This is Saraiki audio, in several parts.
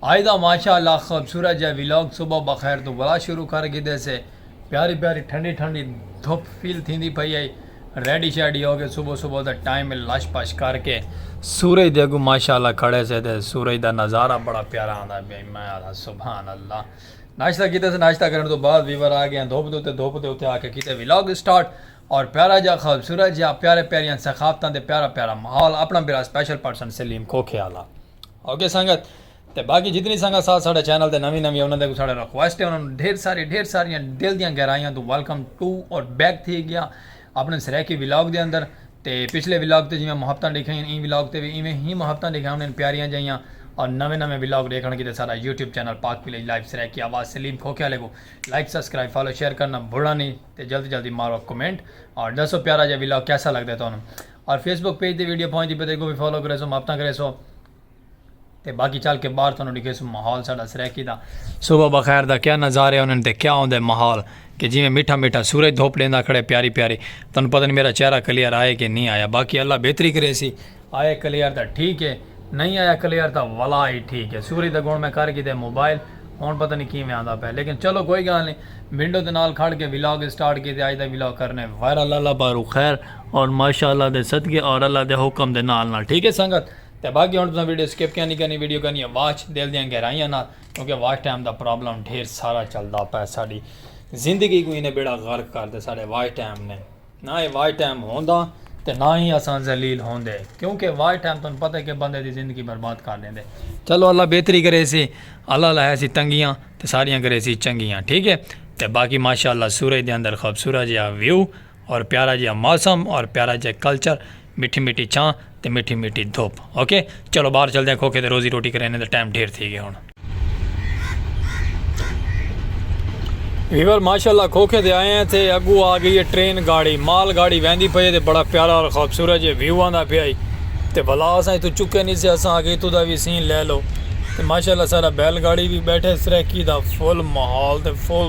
آئی دا ماشاء اللہ خوبصورت جا ولاگ صبح بخیر توں ولا شروع کر گھدے سے پیاری پیاری ٹھنڈی ٹھنڈی دھپ فیل تھیندی پئی ہئی ریڈی شیڈی ہو کے صبح صبح دا ٹائم ہے لش پش کر کے سورج دے اگوں ماشاء اللہ کھڑے سے تے سورج دا نظارہ بڑا پیارا آندا پیا ہئی میں آکھا سبحان اللہ ناشتہ کیتے سے ناشتہ کرن توں بعد ویور آ گئے دھپ دے اتے دھپ دے اتے آ کے کیتے ولاگ سٹارٹ اور پیارا جا خوبصورت جا پیارے پیاریاں ثقافتاں تے پیارا پیارا ماحول اپنا بھرا سپیشل پرسن سلیم کھوکھے آلا۔ اوکے سنگت تے باقی جتنی سنگت ساتھ ساڑھے چینل تے نوی نوی انہاں دے کو ساڑھے ریکویسٹ ہے انہاں نو ڈھیر ساری ڈھیر ساری دل دیاں گہرائیاں تو ویلکم ٹو اور بیک تھی گیا اپنے سریکی ولاگ دے اندر تے پچھلے ولاگ تے جویں محبتاں دیکھیں این ولاگ تے وی ایویں ہی محبتاں دیکھیں انہاں پیاریاں جائیاں اور نوے نوے ولاگ دیکھن کیتے سارا YouTube channel Pak village life Saraiki آواز سلیم کھوکے والے کو لائک سبسکرائب فالو شیئر کرنا بھولنا نہیں تے جلدی جلدی مارو کمنٹ اور دسو پیارا جا ولاگ کیسا لگدا ہے تانوں اور فیس بک پیج تے ویڈیو پہنچ دی پے تے اگوں وی فالو کریسو محبتاں کریسو تے باقی چل کے باہر تانوں ڈکھیسو ماحول ساڈا سرائیکی دا صبح بخیر دا کیا نظارے انہاں تے کیا ہوندے ماحول کہ جویں میٹھا میٹھا سورج دھوپ ڈیندا کھڑے پیاری پیاری تانوں پتہ نہیں میرا چہرہ کلیئر آئے کہ نہیں آیا باقی اللہ بہتری کریسی آئے کلیئر دا ٹھیک ہے نہیں آیا کلیئر دا ولا ہی ٹھیک ہے سورج دا گن میں کر گیتے موبائل ہن پتہ نہیں کیویں آندا پے لیکن چلو کوئی گال نہیں ونڈو دے نال کھڑ کے ولاگ سٹارٹ کیتے آج دا ولاگ کرنے وائرل اللہ بارو خیر اور ماشاءاللہ دے صدقے اور اللہ دے حکم دے نال نال ٹھیک ہے سنگت تے باقی ہن تساں ویڈیو سکپ کینی کرنی ویڈیو کرنی ہے واچ دل دیاں گہرائیاں نال کیونکہ واچ ٹائم دا پرابلم ڈھیر سارا چلدا پے ساڈی زندگی کو اینے بیڑا غرق کر دے ساڈے واچ ٹائم نے نہ اے واچ ٹائم ہوندا تے نہ ہی اساں ذلیل ہوندے کیونکہ وائی ٹائم تن پتہ کہ بندے دی زندگی برباد کر دیندے چلو اللہ بہتری کرے سی اللہ لہے سی تنگیاں تے ساریاں کرے سی چنگیاں ٹھیک ہے تے باقی ماشاءاللہ سورج دے اندر خوبصورت جہا ویو اور پیارا جیہا موسم اور پیارا جیہا کلچر میٹھی میٹھی چھاں تے میٹھی میٹھی دھوپ اوکے چلو باہر چلدے ہیں کھوکھے تے روزی روٹی کرینے دا ٹائم ڈھیر تھی گیا ہن ویور ماشاءاللہ کھوکھے تے آئے ہیں تے اگو آ گئی ہے ٹرین گاڑی مال گاڑی ویندی پئی تے بڑا پیارا اور خوبصورت جے ویو آندا پیا ہی تے بھلا اساں تو چکے نہیں سے اساں اگے تو دا وی سین لے لو تے ماشاءاللہ سارا بیل گاڑی بھی بیٹھے سرکی دا فل ماحول تے فل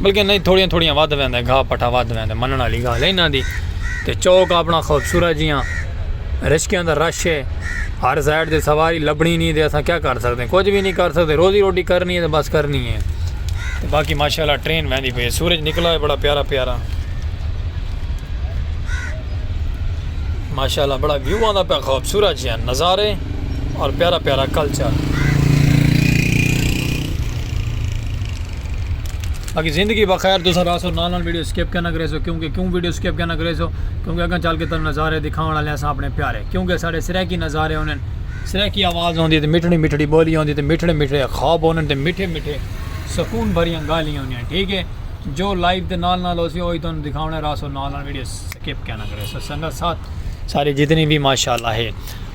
بلکہ انہاں دی تھوڑیاں تھوڑیاں ودھ ویندے گھا پٹھا ودھ ویندے منن والی گالھ ہے انہاں دی تے چوک اپنا خوبصورت جیاں رشکیاں دا رش ہے ہر سائیڈ تے سواری لبنی نہیں دے اساں کیا کر سکدے کچھ بھی نہیں کر سکدے روزی روٹی کرنی ہے تے بس کرنی ہے تے باقی ماشاءاللہ ٹرین ویندی پئی ہے سورج نکلا ہے بڑا پیارا پیارا ماشاءاللہ بڑا ویو آندا پیا خوبصورت جیاں نظارے اور پیارا پیارا کلچر باقی زندگی بخیر تسا راسو نال نال ویڈیو سکپ کیوں نہ کریسو کیونکہ کیوں ویڈیو سکپ کیوں نہ کریسو کیونکہ اگاں چل کے تن نظارے دکھاون والے اساں اپنے پیارے کیونکہ ساڈے سرائیکی نظارے ہونن سرائیکی آواز ہوندی تے مٹھڑی مٹھڑی بولی ہوندی تے مٹھڑے مٹھڑے خواب ہونن تے مٹھے مٹھے سکون بھریاں گالیاں ہوندیاں ٹھیک ہے جو لائیو تے نال نال ہوسی اوہی تن دکھاونا راسو نال نال ویڈیو سکپ کیوں نہ کریسو سنگا ساتھ سارے جتنی بھی ماشاءاللہ ہے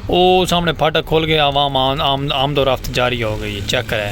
او سامنے پھاٹک کھول گیا عوام آمد و رفت جاری ہو گئی چیک کرے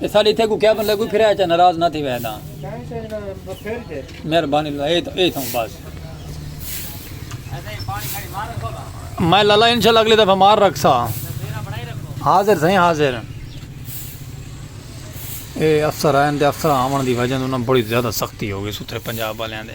اساڈے ایتھے کوئی کیا بندہ کوئی پھریا اچا ناراض نہ تھیوے ہدا مہربانی اللہ اے اے تھوں بس میں لالا انشاءاللہ اگلی دفعہ مار رکھ سا حاضر سائیں حاضر اے افسر آئے دے افسر آون دی وجہ انہاں بڑی زیادہ سختی ہو گئی ستھرے پنجاب والے دے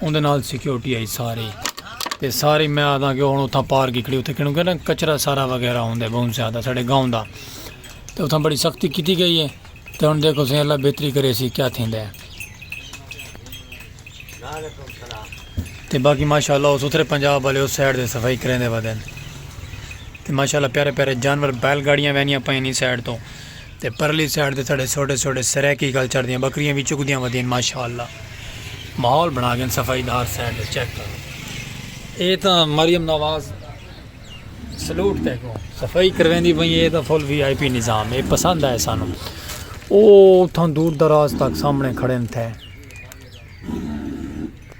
اوندے نال سیکورٹی آئی ساری تے ساری میں آدھاں کہ ہن اتھاں پار گکڑی اتھے کینوں کہ نا کچرا سارا وغیرہ ہوندے بہت زیادہ ساڈے گاؤں دا تے اتھاں بڑی سختی کیتی گئی ہے تے ہن دیکھو سیں اللہ بہتری کرے سی کیا تھیندا ہے تے باقی ماشاءاللہ اس اتھرے پنجاب والے اس سائیڈ دے صفائی کریندے ودن تے ماشاءاللہ پیارے پیارے جانور بیل گاڑیاں وینیاں پئیں نی سائیڈ تو تے پرلی سائیڈ تے تہاڈے سوٹے سوٹے سرائیکی گل چڑ دیاں بکریاں وی چگدیاں ودین ماشاءاللہ ماحول بنا گن صفائی دا ہر سائیڈ تے چیک کرو اے تاں مریم نواز سلوٹ تے کو صفائی کرویندی پئی اے تاں فل وی آئی پی نظام اے پسند آئے سانو او اتھاں دور دراز تک سامنے کھڑے تھے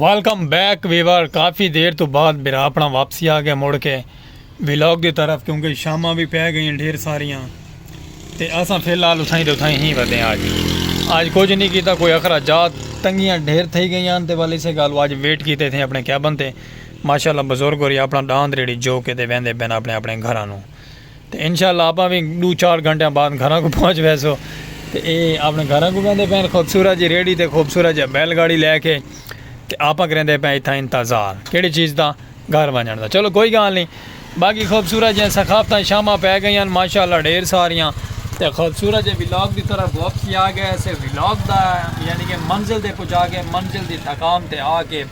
ویلکم بیک ویور کافی دیر تو بعد میرا اپنا واپسی آ گیا مڑ کے ولاگ دی طرف کیونکہ شاماں بھی پہ گئیں ڈھیر ساریاں تے اساں فی الحال اتھائیں تے اتھائیں ہی ودے آج آج کچھ نہیں کیتا کوئی اخراجات تنگیاں ڈھیر تھئی گئیاں تے والے سے گالو آج ویٹ کیتے تھے اپنے کیبن تے ماشاءاللہ بزرگ ہو رہی اپنا ڈاند ریڑی جو کے تے ویندے بین اپنے اپنے گھرانوں تے انشاء اللہ آپاں وی ڈو چار گھنٹیاں بعد گھراں کوں پہنچ ویسوں تے اے اپنے گھراں کوں ویندے پئے ہن خوبصورت جی ریڑھی تے خوبصورت جیہا بیل گاڑی لے کے تے آپاں کریندے پئے اتھاں انتظار کیڑی چیز دا گھر ونجنڑ دا چلو کوئی گالھ نی باقی خوبصورت جیہاں ثقافتاں شاماں پے گئیاں ماشاء اللہ ڈھیر ساریاں تے خوبصورت جے ولاگ دی طرف واپس ہی آ گئے اسے ولاگ دا یعنی کہ منزل دے پجا گئے منزل دی تھکام تے آ کے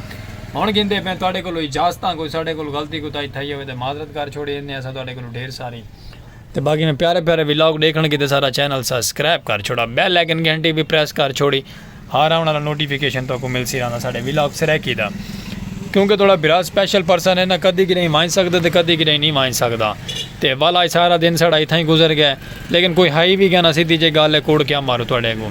ہن گھندے پئے تہاڈے کولوں اجازتاں کوئی ساڈے کولوں غلطی کوتاہی تھئی ہووے تے معذرت کر چھوڑی ایندے اساں تہاڈے کولوں ڈھیر ساری تے باقی میں پیارے پیارے ولاگ ڈیکھن کیتے سارا چینل سسکرائب کر چھوڑا بیل آئیکن گھنٹی وی پریس کر چھوڑی ہر آون والا نوٹیفیکیشن تہاکوں ملسی رہندا ساڈے ولاگ سرائیکی دا کیونکہ تہاڈا بھرا سپیشل پرسن ہے نا کدی کدی وانج سکدا تے کدی کدی نہیں وانج سکدا تے والا سارا دن ساڈا اتھاں ہی گزر گئے لیکن کوئی ہائی وی گیا نا سیدھی جے گل ہے کوڑ کیا مارو تہاڈے اگوں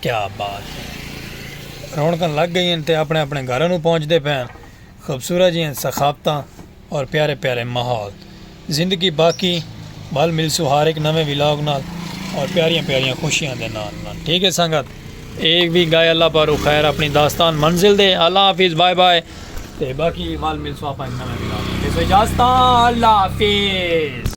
کیا بات ہے رونقاں لگ گئی ہیں تے اپنے اپنے گھراں نو پہنچ دے پین خوبصورت جی ہیں ثقافتاں اور پیارے پیارے ماحول زندگی باقی بھل ملسو ہر ایک نویں ولاگ نال اور پیاریاں پیاریاں خوشیاں دے نال نال ٹھیک ہے سنگت ایک بھی گائے اللہ پارو خیر اپنی داستان منزل دے اللہ حافظ بائے بائے تے باقی بھل ملسو اپنے نویں ولاگ نال اجازت اللہ حافظ